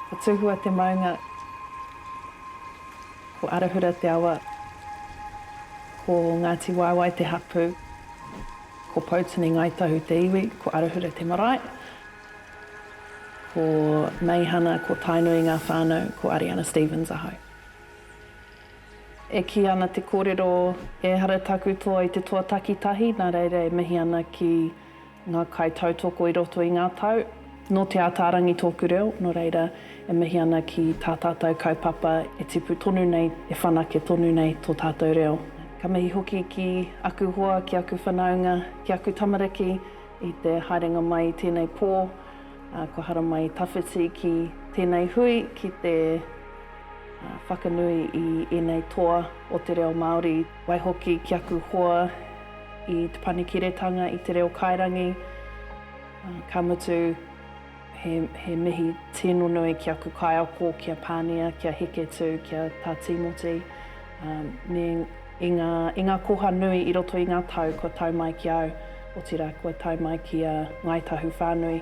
Ko Tuhua te maunga, ko Arahura te awa, ko Ngāti Waewae te hapū, ko Poutini Ngāi Tahu te iwi, ko Arahura te marae, ko Meihana, ko Tainui ngā whānau, ko Ariana Stevens ahau. E kī ana te kōrero, ehara taku toa i te toa takitahi, nā reira e mihi ana ki ngā kaitautoko i roto i ngā tau. Nō Te Ataarangi tōku reo, nō reira, e mihi ana ki tā tātou kaupapa e tipu tonu nei, e whanake tonu nei tō tātou reo. Ka mihi hoki ki aku hoa, ki aku whanaunga, ki aku tamariki i te haerenga mai i tēnei pō, kua haramai tawhiti ki tēnei hui, ki te. Whakanui i ēnei toa o te reo Māori. Waihoki ki aku hoa i Te Panekiretanga i Te Reo Kairangi, ka mutu he mihi tino nui ki aku kaiako, ki a Pānia, ki a Heketū, ki a Tā Tīmoti, me i ngā koha nui i roto i ngā tau kua tau mai ki au, otirā kua tau mai ki a Ngāi Tahu whānui.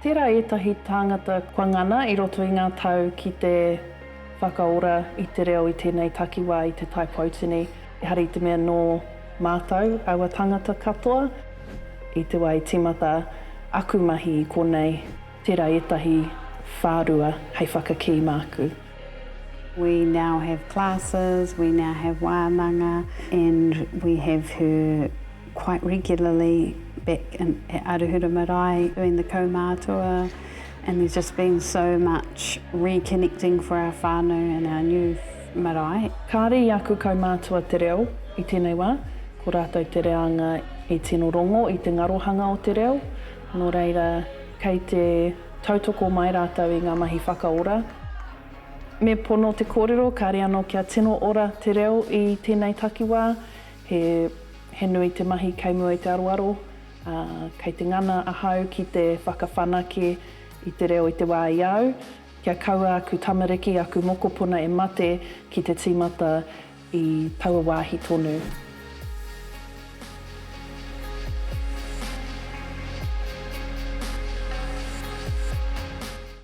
Tērā ētahi tāngata kua ngana i roto i ngā tau ki te whakaora i te reo i tēnei takiwā i Te Tai Poutini, ehara i te mea nō mātou, aua tāngata katoa, i te wā i tīmata aku mahi i konei, tērā ētahi whārua hei whakakī māku. We now have classes, we now have wānanga and we have her quite regularly back in at Arahura Marae doing the kaumātua and there's just been so much reconnecting for our whānau and our new marae. Kāre i aku kaumātua te reo i tēnei wā, ko rātou te reanga i tino rongo i te ngarohanga o te reo, nō reira kei te Tautoko mai rātou i ngā mahi whakaora. Me pono te kōrero, kāre anō kia tino ora te reo i tēnei takiwā. He, he nui te mahi kei mua i te aroaro, ā, kei te ngana ahau ki te whakawhanake i te reo i te wā i a au, kia kaua aku tamariki, aku mokopuna e mate ki te tīmata. I taua wāhi tonu.